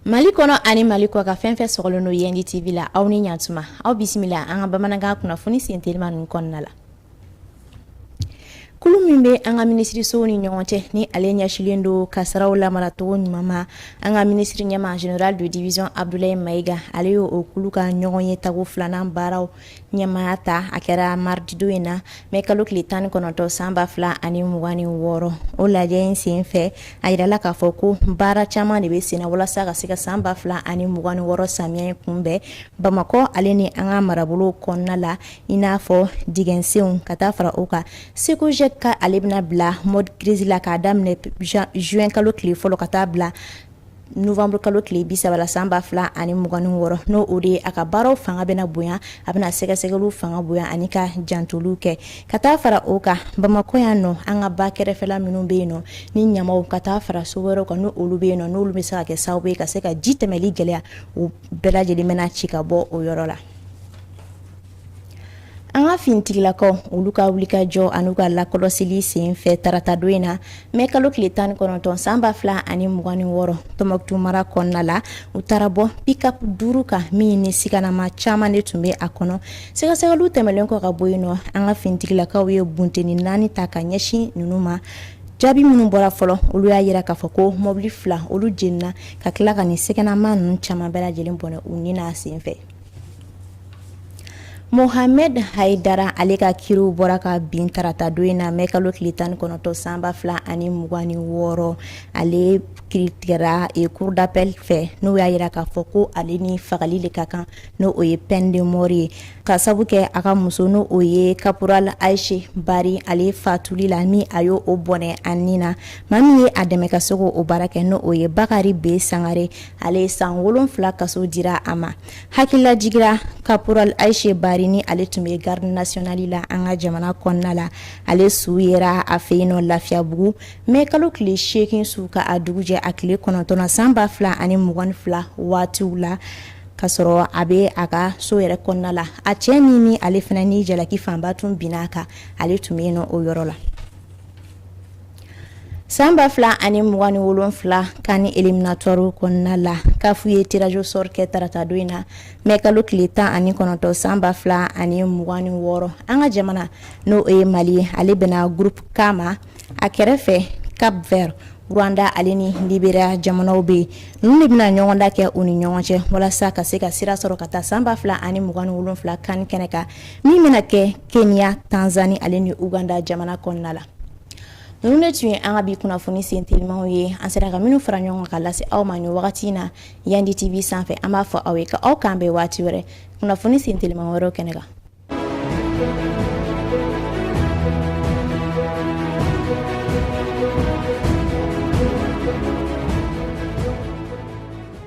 mali kɔnɔ ani mali kɔkan fɛn fɛn sɔgɔlen don yɛndi tv la aw ni ɲatuma aw bisimila an ka bamanankan kunnafoni sentelima ninnu kɔnɔna la kulu min bɛ an ka minisirisow ni ɲɔgɔn cɛ ni ale ɲɛsilen don kasaraw lamaracogo ɲuman ma an ka minisiri ɲɛmaa general de division abdulayi mayiga ale y'o kulu ka ɲɔgɔnye tako filanan baaraw ɲɛmaaya ta a kɛra mardi don in na mɛ kalo tile tan ni kɔnɔntɔn san ba fila ani mugan ni wɔɔrɔ o lajɛ in sen fɛ a jirala k'a fɔ ko baara caman de bɛ sen na walasa ka se ka san ba fila ani mugan ni wɔɔrɔ samiyɛ kunbɛn bamakɔ ale ni an ka marabolo kɔnɔna la i n'a fɔ dingɛsenw ka taa fara o kan cecogec ale bɛna bila mode crise la k'a daminɛ zuwɛn kalo tile fɔlɔ ka taa bila novanburukalo tile bi saba la san ba fila ani mugan ni wɔɔrɔ n'o o de ye a ka baaraw fanga bɛna bonya a bɛna sɛgɛsɛgɛliw fanga bonya ani ka jantoliw kɛ ka taa fara o kan bamakɔ yan nɔ an ka ba kɛrɛfɛla minnu bɛ yen nɔ ni ɲamanw ka taa fara so wɛrɛw kan n'olu bɛ yen nɔ n'olu bɛ se ka kɛ sababu ye ka se ka ji tɛmɛli gɛlɛya o bɛɛ lajɛlen bɛna ci ka bɔ o yɔrɔ la an ka finitigilakaw olu ka wulikajɔ an'u ka lakɔlɔsili sen fɛ tarata don in na mɛ kalo tile tan ni kɔnɔntɔn san ba fila ani mugan ni wɔɔrɔ tɔnbukutu mara kɔnɔna la u taara bɔ pickup duuru kan min ni siganamaa caman de tun bɛ a kɔnɔ sɛgɛsɛgɛliw tɛmɛlen kɔ ka bɔ yen nɔ an ka finitigilakaw ye bunteni naani ta ka ɲɛsin ninnu ma jaabi minnu bɔra fɔlɔ olu y'a jira k'a fɔ ko mɔbili fila olu jenina ka tila ka nin siganamaa ninnu caman bɛɛ lajɛlen bɔnɛ u ni n'a sen fɛ Mohamɛd hayidara ale ka kiiriw bɔra ka bin tarata don in na mɛ kalo tile tan ni kɔnɔntɔn san ba fila ani mugan ni wɔɔrɔ ale kiiri tigɛra cour d'appel fɛ n'o y'a jira k'a fɔ ko ale ni fagali de ka kan n' o ye peine de mort ye ka sabu kɛ a ka muso n' o ye kaporali ayise bari ale fatuli la ni a y'o bɔnɛ a nin na maa min ye a dɛmɛ ka se k'o baara kɛ n' o ye bakari b sangare ale ye san wolonwula kaso dira a ma hakilila jigira kaporali ayise bari ni ale tun bɛ garde nationale la an ka jamana kɔnɔna la ale su yera a fɛ yen nɔ lafiyabugu mɛ kalo tile seegin su ka a dugu jɛ a tile kɔnɔntɔn san ba fila ani mugan ni fila waatiw la ka sɔrɔ a bɛ a ka so yɛrɛ kɔnɔna la a cɛ nin ni ale fana ni jalaki fanba tun binna a kan ale tun bɛ yen nɔ o yɔrɔ la San ba fila ani mugan ni wolonwula CAN éliminatoire kɔnɔna la CAF ye tirage au sort kɛ tarata don in na mɛ kalo tile tan ani kɔnɔntɔn san ba fila ani mugan ni wɔɔrɔ an ka jamana n'o ye mali ye ale bɛnna groupe K ma a kɛrɛfɛ Cap Vert Rwanda ale ni Liberia jamanaw bɛ yen ninnu de bɛna ɲɔgɔndan kɛ u ni ɲɔgɔn cɛ walasa ka se ka sira sɔrɔ ka taa san ba fila ani mugan ni wolonwula CAN kɛnɛ kan min bɛna kɛ Kenya Tanzanie ale ni Uganda jamana kɔnɔna la ninnu de tun ye an ka bi kunnafoni sen telimaw ye an sera ka minnu fara ɲɔgɔn ka lase aw ma nin wagati in na Yandi TV sanfɛ an b'a fɔ aw ye ka aw kan bɛn waati wɛrɛ kunnafoni sen telima wɛrɛw kɛnɛ kan